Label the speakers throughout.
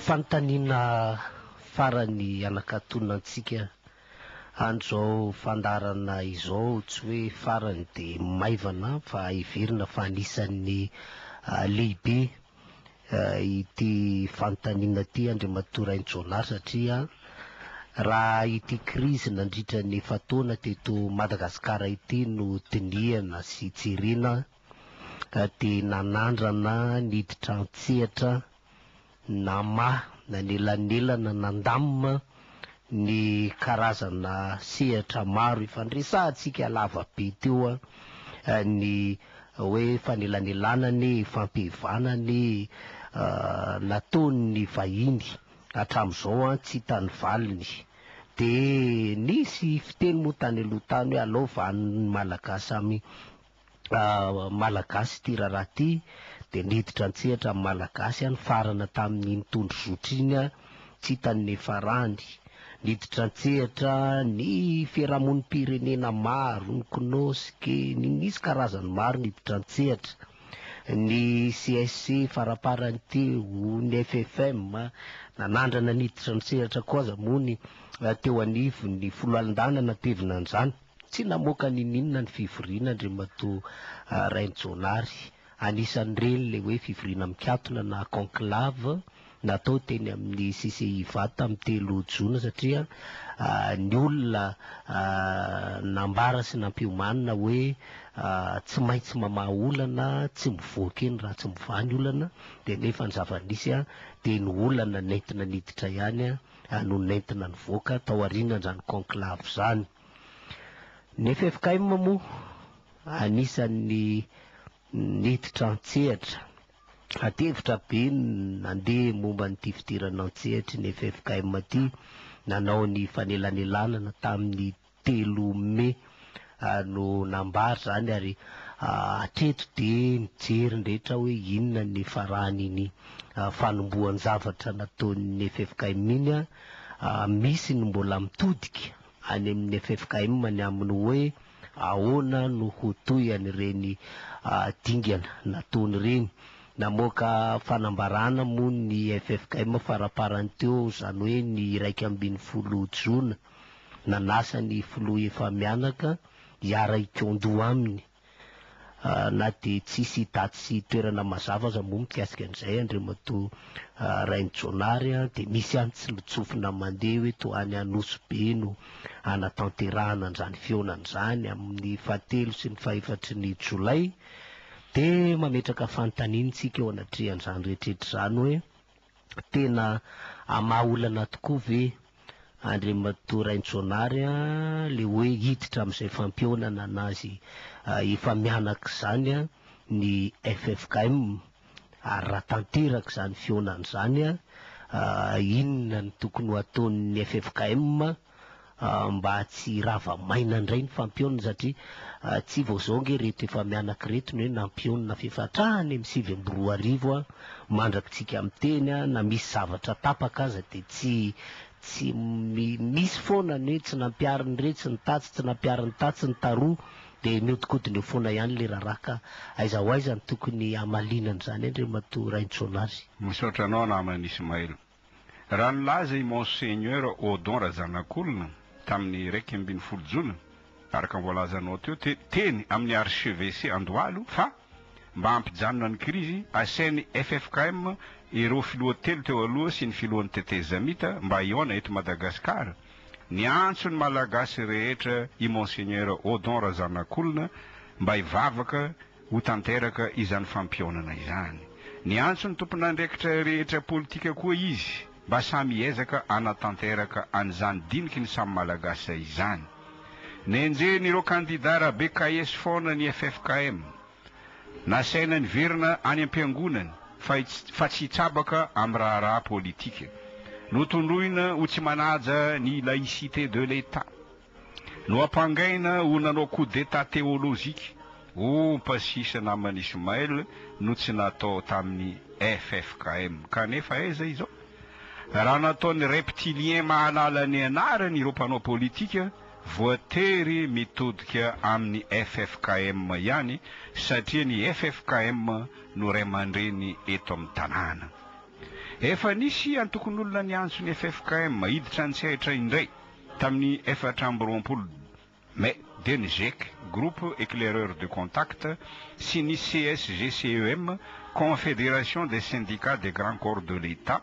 Speaker 1: Fanontaniana farany anakatonona antsika andro izao fandaharana izao, tsy hoe farany dia maivana fa heverina fa anisan'ny lehibe ity fanontaniana ity Andriamatoa Rainijaonary satria raha ity krizy nandritra ny efa-taona teto Madagasikara ity no dinihana sy jerena dia nanandrana niditra an-tsehatra namaha nanelanelana nandamina ny karazana sehatra maro ifandresahantsika lava be teo ny hoe fanelanelana anie e, fampihevana anie e, nataon'ny vahiny hatramin'izao an tsy hita ny valiny. Dia nisy fiteny moa tany aloha tany hoe alao vanona ny Malagasy amin'ny Malagasy ity raharaha ity dia niditra an-tsehatra amin'ny Malagasy aho nifarana tamin'iny tondro zotra iny aho tsy hita ny niafarany. Niditra an-tsehatra ny fiarahamonim-pirenena maro, ny Cnosc, ny nisy karazany maro niditra an-tsehatra, ny CSC faraparany teo, ny FFM, nanandrana niditra an-tsehatra koa aza moa ny teo anivon'ny foloalindahy nanatevina an'izany. Tsy namoaka n'ininona ny fivoriana Andriamatoa Rainijaonary. Anisan'ireny ilay hoe fivoriana mikatona na conclave natao teny amin'ny CCIVA tamin'ny telo jona satria ny olona nambara sy nampiomanina hoe tsy maintsy mamaha olana, tsy mivoaka eny raha tsy mivaha ny olana dia nefa ny zava-nisy dia ny olana nentina niditra ihany no nentina nivoaka tao aorianan'izany conclave izany. Ny ffkm moa anisan'ny niditra an-tsehatra. Ati-hevitra be ny nandeha momba an'ity fidirana an-tsehatry ny ffkm ity. Nanao ny fanelanelanana tamin'ny telo mey no nambara izany ary hatreto dia mijery ny rehetra hoe inona ny faran'iny fanombohan-javatra nataon'ny ffkm iny. Misy ny mbola mitodika. any amin'ny ffkm ny amin'ny hoe ahoana no ho toy an'ireny dingana nataony ireny. Namoaka fanambarana moa ny ffkm faraparany teo izany hoe ny iraika ambin'ny folo jona. Nanasa ny filoha efa mianaka hiara-hikaon-doha aminy. na dia tsisy daty sy toerana mazava aza moa mikasika an'izay Andriamatoa Rainijaonary dia misy ihany tsilontsofina mandeha hoe toa any Anosy be no hanatanterahana an'izany fihaonana izany amin'ny fahatelo sy ny fahefatry ny Jolay dia mametraka fanontaniana isika eo anatrehan'izany rehetra rehetra izany hoe Tena hamaha olana tokoa ve Andriamatoa Raintsoanary a, le hoe hiditra amin'izay fampihaonana anazy efa mianaka izany a, ny ffkm? Ary raha tanteraka izany fihaonana izany a, inona no tokony ho ataon'ny ffkm? mba tsy hirava maina indray ny fampionona satria tsy vao izao ange ireto efa mianaka ireto no hoe nampionona f'efa hatrany amin'ny sivy amby roa arivo mandraka isika miteny na misy zavatra tapaka aza dia tsy tsy misy foana ny hoe tsy nampiarin'iretsy ny tatsy, tsy nampiarin'ny tatsy ny taroa dia mihodinkodina eo foana ihany ilay raharaha ka aiza ho aiza no tokony hamaliana an'izany Andriamatoa Raintsonary. Misaotra anao
Speaker 2: namana Ismaël. Raha nilaza i Monseigneur Odon Razanakolona tamin'ny iraika ambin'ny folo jona, araka ny voalazanao teo, te, teny amin'ny archevêché Andohalo fa mba hampijanona ny krizy, asain'ny ffkm ireo filoha telo teo aloha sy ny filohan'ny tetezamita mba hihaona eto Madagasikara. Niantso ny Malagasy rehetra i Monseigneur Odon Razanakolona mba hivavaka, ho tanteraka izany fampihaonana izany. Niantso ny tompon'andraikitra rehetra politika koa izy mba samy hiezaka hanatanteraka an'izany diniky ny samy Malagasy izany. Nenjehin'ireo kandida Rabe Kaes foana ny ffkm. Nasaina niverina any am-piangonany fa tsy hitsabaka amin'ny raharaha politika. Notondroina ho tsy manaja ny laïcité de l'Etat. Noampangaina ho nanao coup d'état théologique ompa sisa naman'i Ismaël no tsy natao tamin'ny ffkm. Kanefa aiza izao? Raha nataon'ny reptiliens mahalala ny anarany ireo mpanao politika, voatery mitodika amin'ny ffkm ihany satria ny ffkm no ray aman-dreny eto amin'ny tanàna. Efa nisy antokon'olona niantso ny ffkm hiditra an-tsehatra indray. Tamin'ny efatra amby roapolo Mai, dia ny gec, Groupe Eclaireur de Contact, sy ny CSGCEM, Confédération des Syndicats des Grands Corps de l'Etat,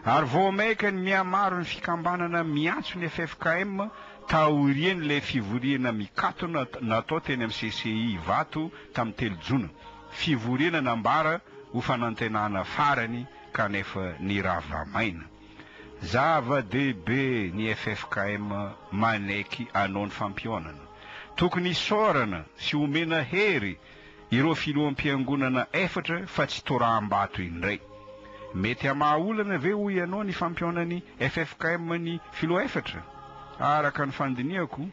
Speaker 2: ary vao mainka ny mihamaro ny fikambanana miantso ny ffkm taorian'ilay fivoriana mikatona natao teny amin'ny CCI Ivato tamin'ny telo Jona, fivoriana nambara ho fanantenana farany kanefa nirava-maina. Zava-dehibe ny ffkm manaiky anao ny fampihaonana. Tokony hisaorana sy omena hery ireo filoham-piangonana efatra fa tsy toraham-bato indray. Mety hamaha olana ve hoy ianao ny fampihaonan'ny ffkm ny filoha efatra? Araka ny fandinihako,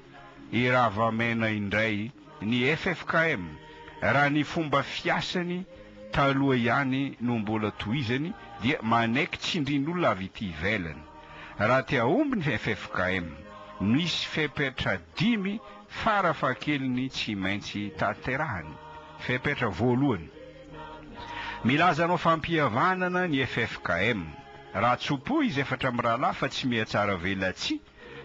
Speaker 2: i Ravamena indray Ny ffkm, raha ny fomba fiasany taloha ihany no mbola tohizany dia manaiky tsindrin'olona avy ety ivelany. Raha te hahomby ny ffkm, misy fepetra dimy fara fahakeliny tsy maintsy tanterahany. Fepetra voalohany, milaza hanao fampihavanana ny ffkm. Raha tso-po izy efatra mirahalahy fa tsy mihatsara velatsihy,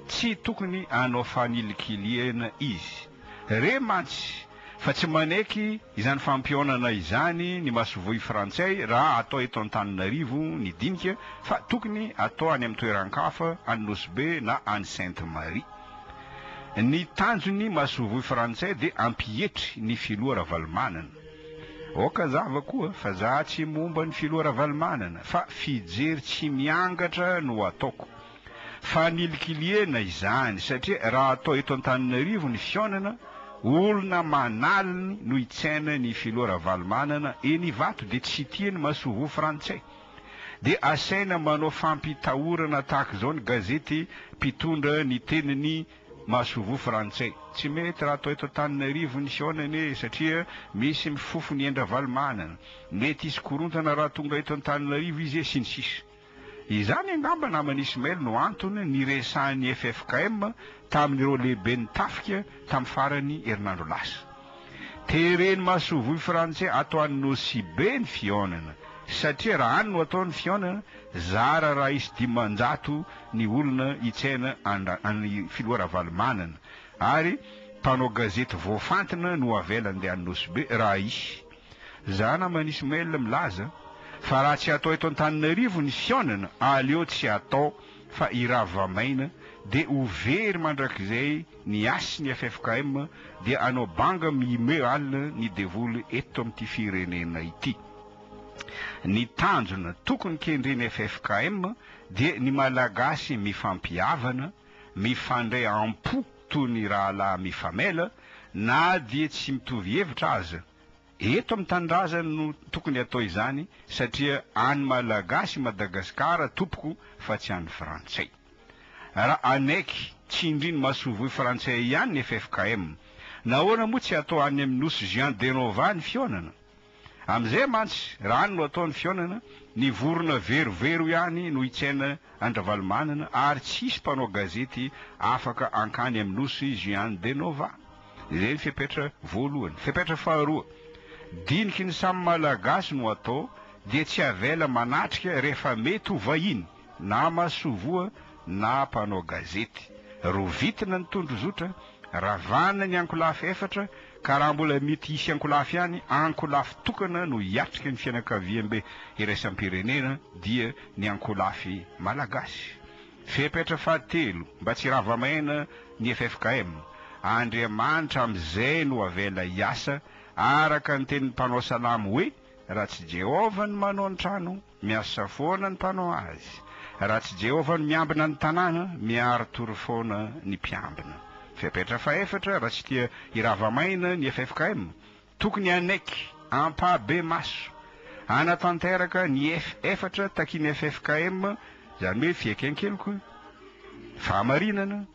Speaker 2: Tsy tokony hanao fanilikilihana izy. Re mantsy fa tsy manaiky izany fampihaonana izany ny masoivoho frantsay raha atao eto Antananarivo ny dinika fa tokony atao any amin'ny toeran-kafa, any Nosy Be na any Sainte Marie. Ny tanjon'ny masoivoho frantsay dia hampietry ny filoha Ravalomanana. Aoka zava koa fa za tsy momba ny filoha Ravalomanana fa fijery tsy miangatra no ataoko. fa nilikiliana izany satria raha atao eto Antananarivo ny fihaonana, olona manaliny no hitsaina ny filoha Ravalomanana eny Ivato dia tsy tia ny masoivoho frantsay. Dia asaina manao fampitahorana tahaka izao ny gazety mpitondra ny tenin'ny masoivoho frantsay. Tsy mety raha atao eto Antananarivo ny fihaonana e satria misy mifofo ny ain-dRavalomanana, mety hisy korontana raha tonga eto Antananarivo izy e sy ny sisa. Izany angamba naman'i Ismail no antony niresahan'ny ffkm tamin'ireo lehiben'ny tafika tamin'ny faran'ny herinandro lasa. Teren'ny masoivohy frantsay ato any Nosy Be ny fihaonana satria raha any no atao ny fihaonana, zara raha hisy dimanjato ny olona hitsena an'i Filoha Ravalomanana ary mpanao gazety voafantina no avela handeha any Nosy Be raha hisy. Za naman'i Ismaël milaza fa raha tsy atao eto Antananarivo ny fihaonana aleo tsy atao fa i Ravamaina dia ho very mandrakizay ny hasin'ny ffkm dia hanao banga mimeut alina ny devoly eto amin'ity firenena ity. Ny tanjona tokony kendren'ny ffkm dia ny Malagasy mifampihavana, mifandray am-po, toy ny rahalahy mifamela na dia tsy mitovy hevitra aza. Eto amin'ny tanindrazany no tokony hatao izany satria an'ny Malagasy i Madagasikara tompoko fa tsy an'ny Frantsay. Raha hanaiky tsindrin'ny masoivoho frantsay ihany ny ffkm, nahoana moa tsy atao any amin'ny Nosy Jean Denova ny fihaonana? Amin'izay mantsy, raha any no atao ny fihaonana, ny vorona verovero ihany no hitsaina an-dRavalomanana ary tsy hisy mpanao gazety afaka hankany amin'ny nosy Juan de Nova. Izay ny fepetra voalohany. Fepetra faharoa, diniky ny samy Malagasy no atao dia tsy avela manatrika rehefa mety ho vahiny. na masoivoa na mpanao gazety. Rovitina ny tondrozotra, ravana ny ankolafy efatra, ka raha mbola mety hisy ankolafy ihany, ankolafy tokana no hiatrika ny fianakaviambe iraisam-pirenena, dia ny ankolafy malagasy. Fepetra fahatelo, mba tsy hirava maina ny ffkm. Andriamanitra amin'izay no avela hiasa, araka ny tenin'ny mpanao salamo hoe, Raha tsy Jehovah no manao ny trano, Miasa foana ny mpanao azy. Raha tsy Jehovah no miambina ny tanàna, miari-tory foana ny mpiambina. Fepetra fahefatra, Raha tsy tia hirava maina ny ffkm, tokony hanaiky ampahibemaso hanatanteraka ny ef efatra takin'ny ffkm, izany hoe fieken-keloka, fahamarinana,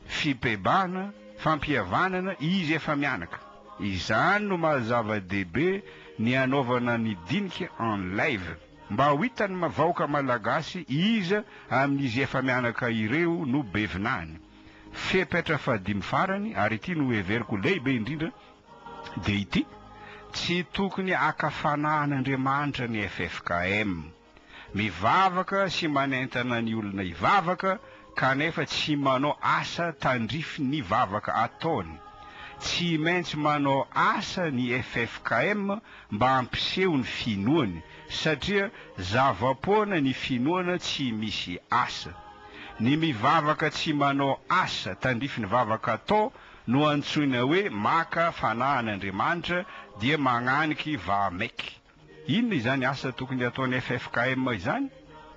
Speaker 2: fibebahana, fampihavanana, izy efa mianaka. Izany no maha zava-dehibe ny hanaovana ny dinika en live, mba ho hitan'ny vahoaka malagasy iza amin'izy efa mianaka ireo no be vinany. Fepetra fahadimy farany, ary ity no heveriko lehibe indrindra, dia ity, tsy tokony haka fanahin'Andriamanitra ny ffkm. Mivavaka sy manentana ny olona hivavaka kanefa tsy manao asa tandrify ny vavaka ataony. Tsy maintsy manao asa ny ffkm mba hampiseho ny finoany satria zava-poana ny finoana tsy misy asa. Ny mivavaka tsy manao asa tandrify ny vavaka atao No antsoina hoe maka fanahy an' Andriamanitra dia magnaniky vahamaiky. Inona izany asa tokony ataony ffkm izany?